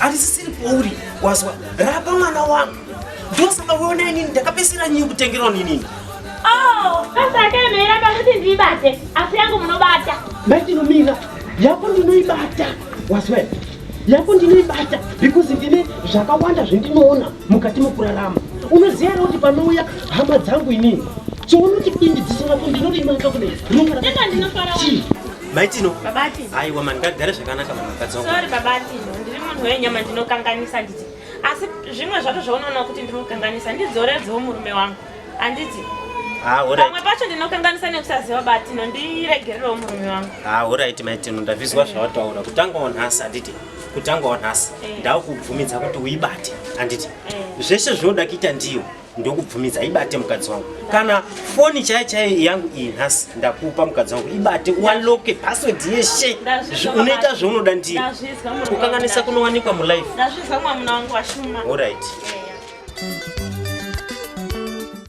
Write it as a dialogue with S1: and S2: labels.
S1: Andisisiri kwauri wazwa rapa mwana wangu ndosaka uona inini ndakapesera nyinyi kutengerwa ninini. Oh,
S2: sasa akaemera pakuti ndiibate asi yangu munobata. Matinomira
S1: yako ndinoibata wazwa yako ndinoibata because ndine zvakawanda zvendinoona mukati mokurarama unoziva here kuti panouya hama dzangu inini chounoti indi dziso rako ndinorimaka kudai rinonga rakati
S2: maitino
S1: babati aiwa
S2: mani ngagare
S1: zvakanaka mani mukadzi wangu sorry babati ndiri
S2: munhu wenyama ndinokanganisa nditi asi zvimwe zvacho zvaunoona kuti ndinokanganisa ndidzoredzewo murume wangu handiti Ah, pamwe
S1: pacho ndinokanganisa
S2: nekusaziva bati nondiregererewo murume wangu ah, orit maitino
S1: ndavizwa zvawataura kutangawo nhasi handiti kutangawo nhasi eh. ndakubvumidza kuti uibate handiti eh. zvese zvinoda kuita ndiyo ndokubvumidza ibate mukadzi wangu kana foni chaiyo chaiyo yangu iyi nhasi ndakupa mukadzi wangu ibate ualoke password yeshe unoita zvaunoda ndii kukanganisa
S2: kunowanikwa
S1: mulife
S2: orit
S1: yeah,
S2: yeah.